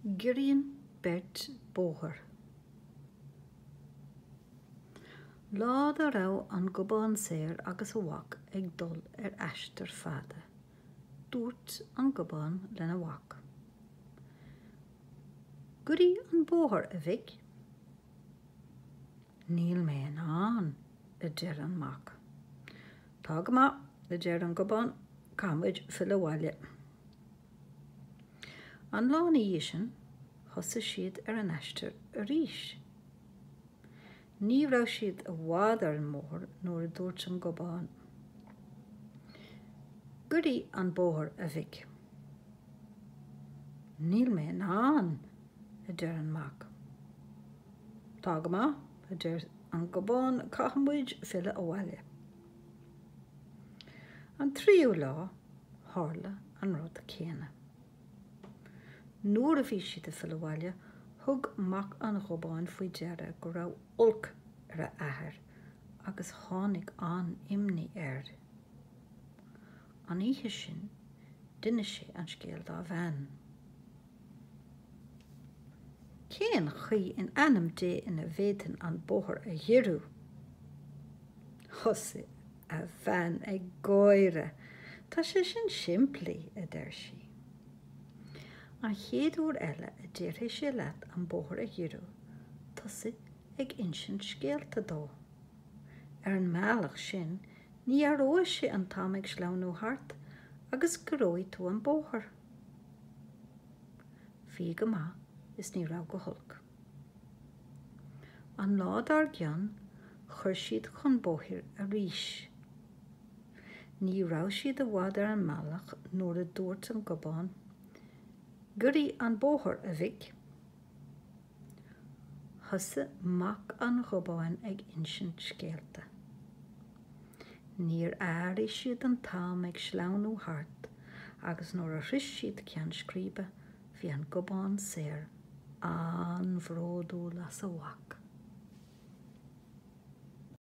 Giorraíonn beirt bóthar. Lá dá raibh an Gobán Saor agus a mhac ag dul ar aistear fada, dúirt an Gobán lena mhac, Giorraigh an bóthar, a mhic. Níl mé in ann, a deir an mac. Tá go maith, a deir an Gobán, caithfidh muid filleadh abhaile. An lá ina dhiaidh sin, thosaigh siad ar an aistear arís. Ní raibh siad i bhfad ar an mbóthar nuair a dúirt an Gobán, Giorraigh an bóthar, a mhic. Níl mé in ann, a deir an mac. Tá go maith, a deir an Gobán, caithfimid filleadh abhaile. An tríú lá, tharla an rud céanna. Nuair a bhí siad ag filleadh abhaile, thug mac an Ghobáin faoi deara go raibh olc ar a athair agus tháinig an-imní air. An oíche sin, d'inis sé an scéal dá bhean. Cén chaoi in ainm Dé a bhféadfainn an bóthar a ghiorrú? Thosaigh a bhean ag gáire. Tá sé sin simplí, a deir sí. An chéad uair eile a déarfaidh sé leat an bóthar a ghiorrú, tosaigh ag insint scéalta dó. Ar an mbealach sin, ní aireoidh sé an t-am ag sleamhnú thart agus giorróidh tú an bóthar. Bhí go maith is ní raibh go holc. An lá dár gcionn chuir siad chun bóthair arís. Ní raibh siad i bhfad ar an mbealach nuair a dúirt an Gobán, Giorraigh an bóthar, a mhic! Thosaigh Mac an Ghobáin ag insint scéalta. Níor airigh siad an t-am ag sleamhnú thart agus nuair a shroich siad ceann scríbe bhí an Gobán Saor an-bhródúil as a mhac.